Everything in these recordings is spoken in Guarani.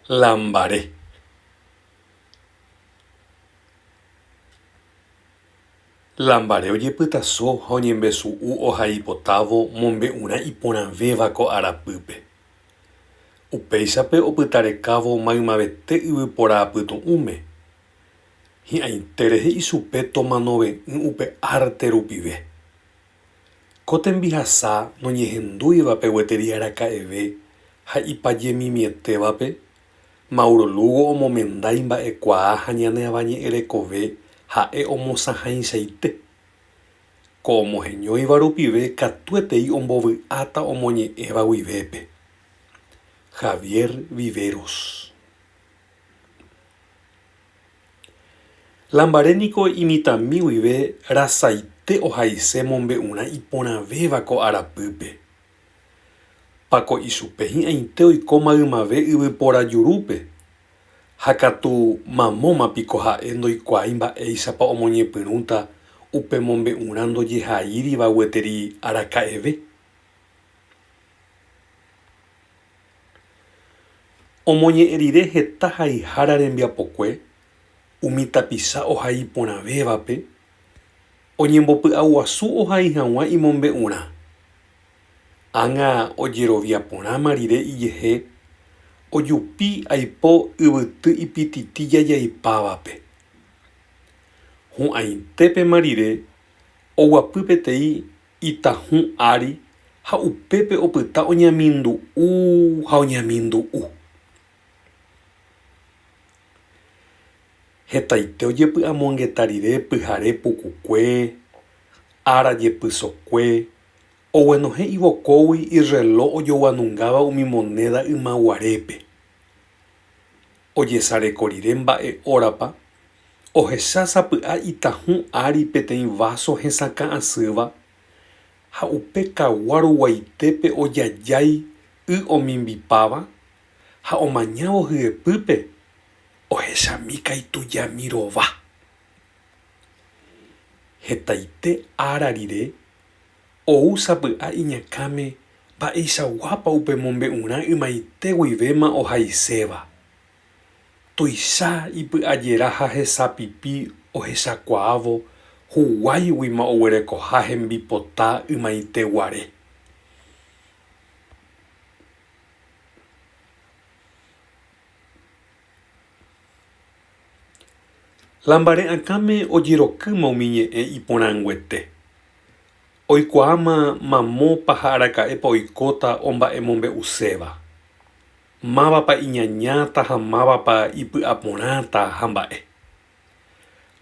la mbare. La mbare ojepytaso ha oñembesu'u ohaipotávo mombe'urã iporãvéva ko arapýpe. Upéichape opytarekávo maymavete yvypóra apytu'ũme. Hi'ãitére he'i chupe tomanove'ỹ upe arte rupive. Ko tembihasa noñehendúivape gueteri araka'eve ha ipajemimietévape, Mauro Lugo omomenda imba'ekuaa ha ñane avañe'ẽrekove ha'e omosãhaichaite. Ko omoheñóiva rupive katuetei ombovy'áta omoñe'ẽva guivépe. Javier Viveros. La mbare niko imitãmi guive rasaite ohaise mombe'urã iporãvéva ko arapýpe. Pako ichupe hi'ãite oiko maymave yvypóra jurúpe, ha katu mamóma piko ha'e ndoikuaái mba'éichapa omoñepyrũta upe mombe'urã ndojehaíriva gueteri araka'eve. Omoñe'ẽ rire heta haihára rembiapokue umi tapicha ohai porãvévape, oñembopy'aguasu ohai hag̃ua imombe'urã. Ág̃a ojerovia porãma rire ijehe, ojupi aipo yvyty ipititi jajaipávape. Hu'ãitépema rire oguapy peteĩ Itahũ ári ha upépe opyta oñemindu'u ha oñemindu'u. Hetaite ojepy'amongeta rire pyhare pukukue, ára jepysokue, oguenohẽ ivokógui irreló ojoguanungáva umi monéda ymaguarépe. Ojesareko rire mba'e órapa, ohecha sapy'a itahũ ári peteĩ váso hesakã asýva, ha upe kagua ruguaitépe ojajái y omimbipáva, ha omañávo hyepýpe, ohechami kaitujami rova. Hetaite ára rire, Ou sapy'a iñakãme mba'eichaguápa upe mombe'urã ymaite guivéma ohaiséva. Tuicha ipy'ajera ha hesapipi ohechakuaávo huguáiguima oguerekoha hembipota ymaite guare. La mbare'akãme ojerokýma umi ñe'ẽ iporãnguete. Oikuaáma mamópa ha araka'épa oikóta omba'emombe'uséva. Mávapa iñañáta ha mávapa ipy'aporãta ha mba'e.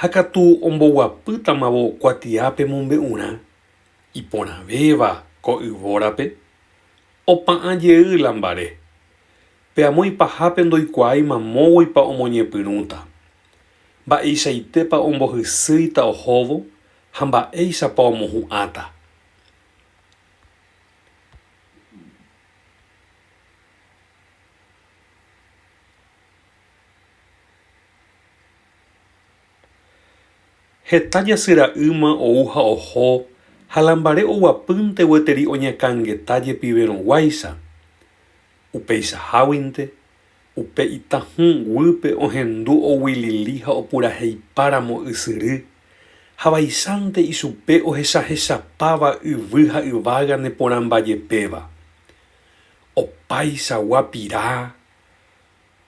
Ha katu omboguapýtamavo kuatiápe mombe'urã iporãvéva ko yvórape, opa'ã jey la mbare, Pe amo ipahápe ndoikuaái mamóguipa omoñepyrũta, mba'eichaitépa ombohysýita ohóvo ha mba'éichapa omohu'ãta. Heta jasyra'ýma ou ha oho ha la mbare oguapýnte gueteri oñakãngeta jepiverõguáicha, Upeichaháguinte, upe itahũ guýpe ohendu oguilili ha opuraheipáramo ysyry, ha vaicháinte ichupe ohechahechapáva yvy ha yvága neporãmbajepéva. Opaichagua pira,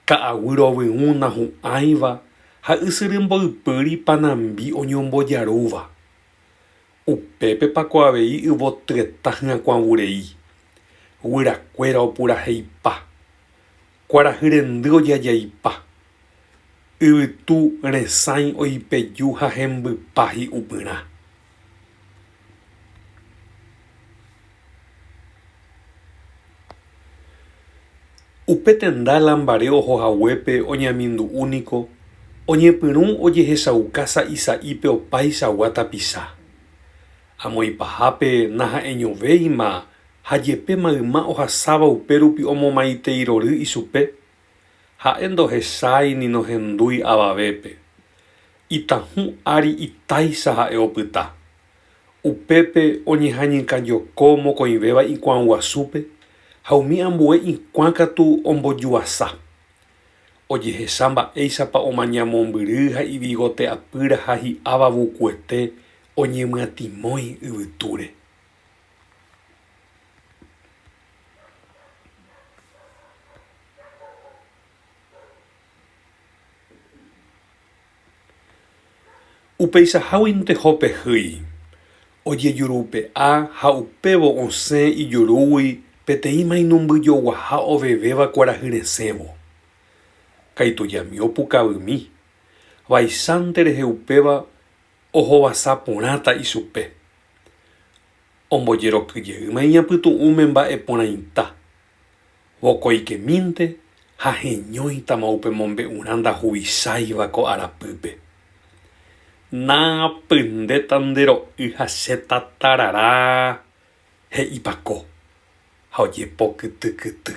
ka'aguy rovyũ nahu'ãiva ha ysyry mboypýri panambi oñombojarúva. Upépepa ko avei yvotyeta hyakuã vurei, guyrakuéra opuraheipa, kuarahy rendy ojajaipa, yvytu resãi oipeju ha hembypa hi'upyrã. Upe tenda la mbare oho haguépe oñeamindu'u niko oñepyrũ ojehechauka sa'i sa'ípe opaichagua tapicha. Amoĩpahápe naha'eñovéima ha jepe mayma ohasáva upérupi omomaiteeirory ichupe, ha'e ndohechái ni nohendúi avavépe. Itãhũ ári itáicha ha'e opyta. Upépe oñeha'ñykajoko mokõivéva ikuã guasúpe ha umi ambue ikuã katu ombojuasa. Ojehecha mba'éichapa omaña mombyry ha ivigote apýra ha hi'áva vukuete oñemyatimói yvytúre. Upeichaháguinte Jope hýi, ojejurupe'a ha upévo osẽ ijurúgui peteĩ mainumbyjoguaha ovevéva kuarahy resẽvo. Kaitujami opukavymi, vaicháinte rehe upéva ohovasa porãta ichupe. Ombojerokyjeýma iñapytu'ũme mba'eporãita. Vokoikemínte ha heñóitama upe mombe'urã ndahuvisáiva ko arapýpe. Naapyndéta nde ro'y ha che tatarara, he'i Pako, ha ojepo kyty kyty.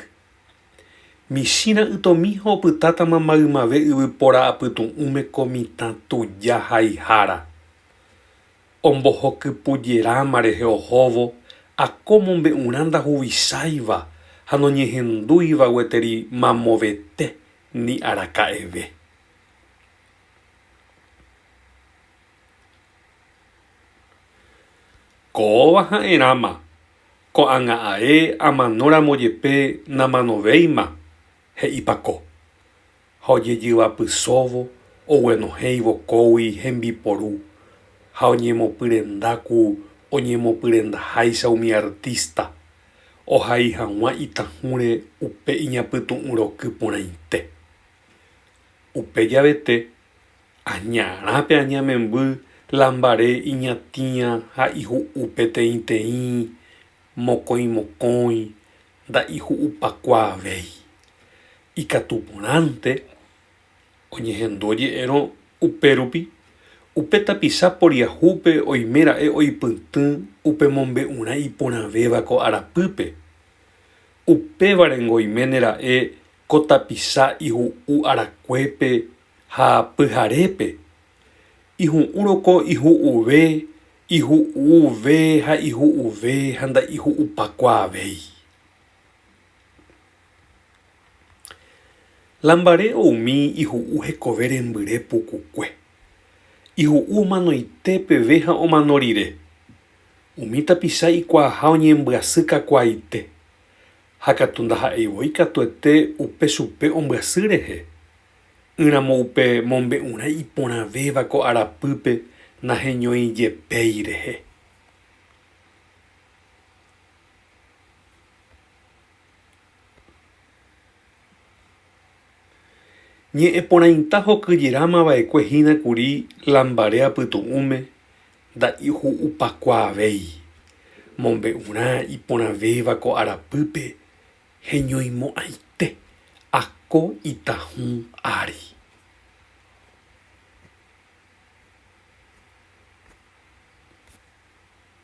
Michĩ ra'ytomi ha opytátama maymave yvypóra apytu'ũme ko mitã tuja haihára. Ombohokypujeráma rehe ohóvo ha ko mombe'urã ndahuvisáiva ha noñehendúiva gueteri mamovete ni araka'eve. Kóva ha'erãma, ko'ág̃a ae amanóramo jepe namanovéima, he'ipa ko. ha ojejyvapysóvo oguenohẽivo kógui hembiporu ha oñemopyrenda ku oñemopyrendaháicha umi artista ohai hag̃ua itahũre upe iñapytu'ũ roky porãite. Upe javete, añarã pe aña memby la mbare iñatĩa ha ihu'u peteĩteĩ Mokõi mokõi nda'iju'upakuaavéi. Ikatu porãnte oñehendu oje'érõ upérupi, upe tapicha poriahúpe oime ra'e oipytỹ upe mombe'urã iporãvéva ko arapýpe. Upévarengo oiméne ra'e ko tapicha ihu'u arakuépe ha pyharépe. Ihu'úrõ ko ihu'uve Ihu'uve ha ihu'uve ha nda'ihu'upakuaavéi. La mbare oumi ihu'u hekove rembyre pukukue. Ihu'u omanoite peve ha omano rire. Umi tapicha ikuaaha oñembyasy kakuaaite. Ha katu ndaha'eivoi katuete upe chupe ombyasy rehe, Y ramo upe mombe'urã iporãvéva ko arapýpe naheñóijepéi rehe. Ñe'ẽporãita hokyjerama vaekue hína kuri lambare apytu'ũme nda'iju'upakuaavéi, mombe'urã iporãvéva ko arapýpe Heñoimo'ãite ako itahũ ári.